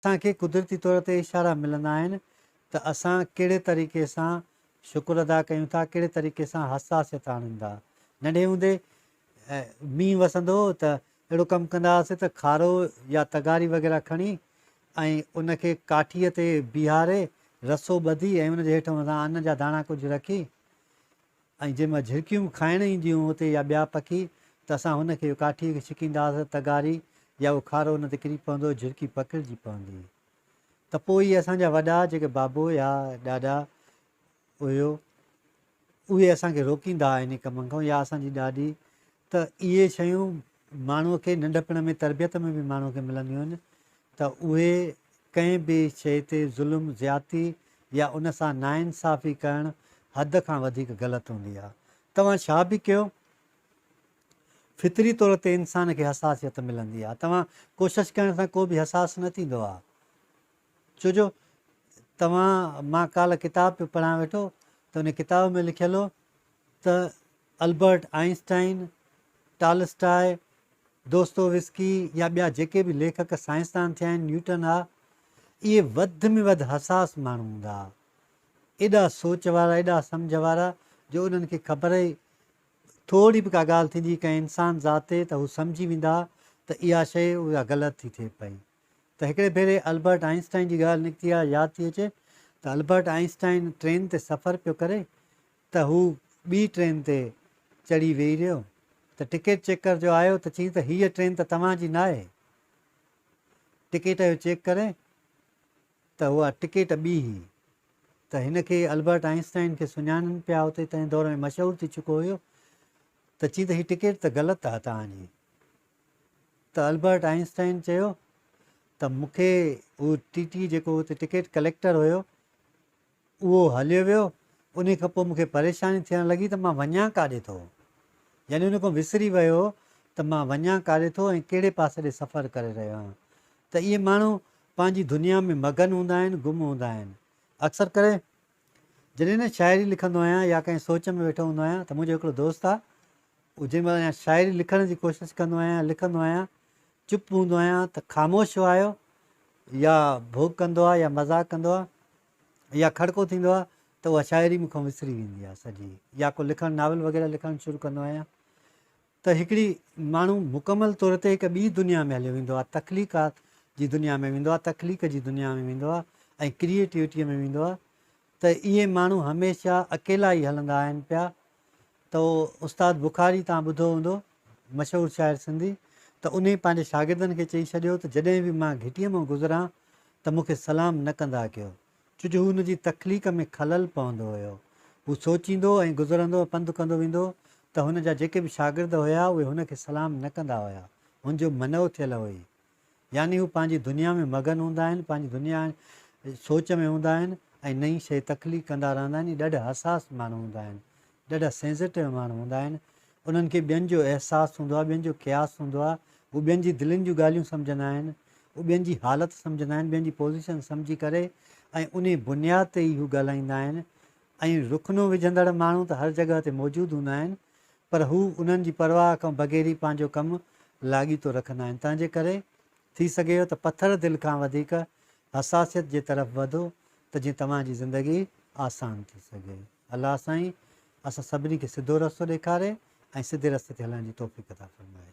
اسان کي قدرتي طور تي اشارا ملندا آهن ته اسان ڪهڙي طريقي سان شڪر ادا ڪيون ٿا، ڪهڙي طريقي سان حساسيت آڻيون ٿا. ننڍي هوندي مينهن وسندو هو ته اهڙو ڪم ڪندا هئاسين ته کارو يا تغاري وغيره کڻي ۽ ان کي ڪاٺيء تي بيهاري رسو ٻڌي ۽ ان جي هيٺ مٿان ان جا داڻا ڪجهه رکي ۽ جنهن مان جهرڪيون کائڻ اينديون هتي يا ٻيا پکي ته اسان هن کي ڪاٺيء کي ڇڪينداس تغاري يا اهو کارو ان تي ڪري پوندو جهرڪي پکڙجي پوندي ته پوء اهي اسان جا وڏا جيڪي بابو يا ڏاڏا هيو اهي اسان کي روڪيندا انهي ڪم کان يا اسان جي ڏاڏي ته اهي شيون ماڻهو کي ننڍپڻ ۾ تربيت ۾ به ماڻهو کي ملنديون آهن ته اهي ڪنهن به شيء تي ظلم، زيادتي يا ان سان ناانصافي ڪرڻ حد کان وڌيڪ غلط هوندي آهي. توهان ڇا به ڪيو فطري طور تي انسان کي حساسيت ملندي آهي. توهان ڪوشش ڪرڻ سان ڪو به حساس نه ٿيندو آهي. ڇو جو توهان مان ڪالهه ڪتاب پيو پڙهان ويٺو ته ان ڪتاب ۾ لکيل هو ته البرٽ آئنسٽائن، ٽالسٽاء، دوستويسڪي يا ٻيا جيڪي به ليکڪ سائنسدان ٿيا آهن، نيوٽن آ، اهي وڌ ۾ وڌ حساس ماڻهو هوندا ها. ايڏا سوچ وارا، ايڏا سمجهه وارا جو انهن کي خبر ئي ٿورڙي به ڪا ڳالهه ٿيندي هئي ڪنهن انسان ذات تي ته هو سمجهي ويندا ها ته اها شيء اها غلط ٿي ٿئي پئي. ته هڪڙي ڀيري البرٽ آئنسٽائن جي ڳالهه نڪتي آ ياد ٿي اچي ته البرٽ آئنسٽائن ٽرين تي سفر پيو ڪري ته هو ٻي ٽرين تي چڙهي ويهي رهيو ته ٽڪيٽ چيڪر جو آيو ته چيائين ته هيء ٽرين ته توهان جي ناهي ٽڪيٽ اهو چيڪ ڪري ته اها ٽڪيٽ ٻي هئي ته هن کي البرٽ آئنسٽائن کي سڃاڻن پيا اتي تنهن دور ۾ مشهور ٿي چڪو هيو ته چيائين ته هي ٽڪيٽ ته غلط آ توهان جي ته البرٽ آئنسٽائن چيو ته مون کي هو ٽي ٽي جيڪو اتي ٽڪيٽ ڪليڪٽر هيو اهو هليو ويو ان کان پوء مون کي پريشاني ٿيڻ لڳي ته مان وڃان ڪاڏي ٿو يعني ان کان وسري ويو ته مان وڃان ڪاڏي ٿو ۽ ڪهڙي پاسي ڏي سفر ڪري رهيو آهيان ته اهي ماڻهو پنهنجي دنيا ۾ مگن هوندا آهن گم هوندا آهن اڪثر ڪري جڏهن نه شاعري لکندو آهيان يا ڪنهن سوچ ۾ ويٺو هوندو آهيان ته منهنجو هڪڙو دوست آهي اهو جنهن مهل يا شاعري لکڻ جي ڪوشش ڪندو آهيان يا لکندو آهيان چپ هوندو آهيان ته خاموش وايو يا ڀوڪ ڪندو آهي يا مذاق ڪندو آهي يا کڙڪو ٿيندو آهي ته اها شاعري مون کان وسري ويندي آهي سڄي يا ڪو لکڻ ناول وغيره لکڻ شروع ڪندو آهيان ته هڪڙي ماڻهو مڪمل طور تي هڪ ٻي دنيا ۾ هليو ويندو آهي، تخليقات جي دنيا ۾ ويندو آهي، تخليق جي دنيا ۾ ويندو آهي ۽ ڪريئيٽوٽيء ۾ ويندو آهي ته اهي ماڻهو هميشه اڪيلا ئي هلندا آهن پيا ته استاد بخاري توهان ٻڌو هوندو مشهور شاعر سنڌي ته انهي پنهنجي شاگردن کي چئي ڇڏيو ته جڏهن به مان گهٽيء مان گذران ته مون کي سلام نه ڪندا ڪيو. ڇو جو هو هن جي تخليق ۾ خلل پوندو هيو. هو سوچيندو ۽ گذرندو ۽ پنڌ ڪندو ويندو ته هن جا جيڪي به شاگرد هيا اهي هن کي سلام نه ڪندا هيا. هن جو منعو ٿيل هئي. يعني هو پنهنجي دنيا ۾ مگن هوندا آهن، پنهنجي دنيا ۽ سوچ ۾ هوندا آهن ۽ نئين شيء تخليق ڪندا رهندا آهن ۽ ڏاڍا حساس ماڻهو هوندا آهن. ڏاڍا سينسيٽو ماڻهو هوندا آهن انهن کي ٻين جو احساس هوندو آهي ٻين جو قياس هوندو آهي هو ٻين جي دلين جون ڳالهيون سمجهندا آهن هو ٻين جي حالت سمجهندا آهن ٻين جي پوزيشن سمجهي ڪري ۽ انهي بنياد تي ئي هو ڳالهائيندا آهن ۽ رڪنون وجهندڙ ماڻهو ته هر جڳهه تي موجود هوندا آهن پر هو انهن جي پرواهه کان بغير ئي پنهنجو ڪم لاڳيتو رکندا آهن تنهن جي ڪري ٿي سگهي ٿو ته پٿر دل کان وڌيڪ حساسيت جي طرف وڌو ته جيئن توهان جي زندگي آسان ٿي سگهي. الله سائين اسان سڀني کي سڌو رستو ڏيکاري ۽ سڌي رستي تي هلڻ جي توفيق عطا فرمائي.